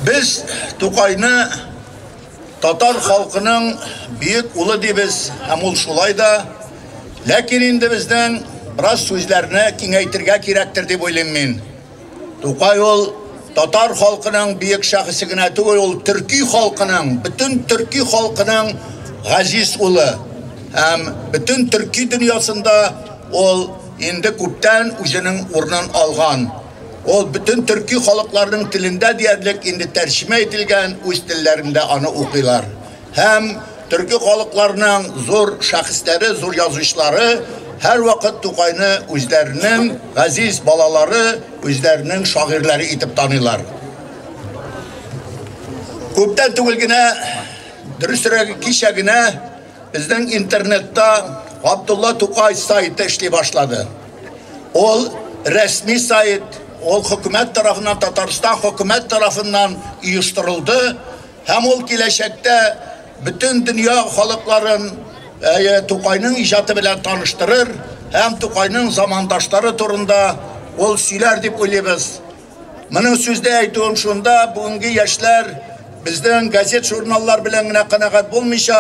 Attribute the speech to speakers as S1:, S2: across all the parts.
S1: Без Тукайны татар халкының бөек улы дибез, һәм ул шулай да. Ләкин инде безнең бераз сүзләрне киңәйтергә кирәктер дип уйлыйм мин. Тукай ул татар халкының бөек шәхесе генә түгел, ул төрки халкының, бөтен төрки халкының газиз улы. Һәм бөтен төрки дөньясында ул инде күптән үзенең урынын алган. Ул бөтен төрки халыкларның телендә диярлек инде тәрҗемә ителгән, үз телләрендә аны укыйлар. Һәм төрки халыкларның зур шәхесләре, зур язучылары һәрвакыт Тукайны үзләренең газиз балалары, үзләренең шагыйрьләре итеп таныйлар. Күптән түгел генә, дөресрәге кичә генә Безнең интернетта Абдулла Тукай сайты эшли башлады. Ул рәсми сайт, ул хөкүмәт тарафыннан, Татарстан хөкүмәт тарафыннан оештырылды һәм ул киләчәктә бөтен дөнья халыкларын ә, Тукайның иҗаты белән таныштырыр һәм Тукайның замандашлары турында ул сөйләр дип уйлыйбыз. Моның сүздә әйтүем шунда, бүгенге яшьләр безнең газет-журналлар белән генә канәгать булмыйча,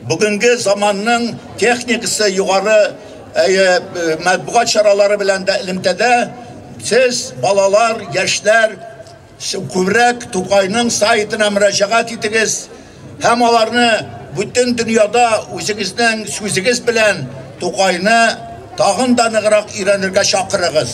S1: бүгенге заманның техникасы югары матбугат чаралары белән дә элемтәдә сез балалар, яшьләр күбрәк Тукайның сайтына мөрәҗәгать итегез һәм аларны бүтән дөньяда үзегезнең сүзегез белән Тукайны тагын да ныграк өйрәнергә чакырыгыз.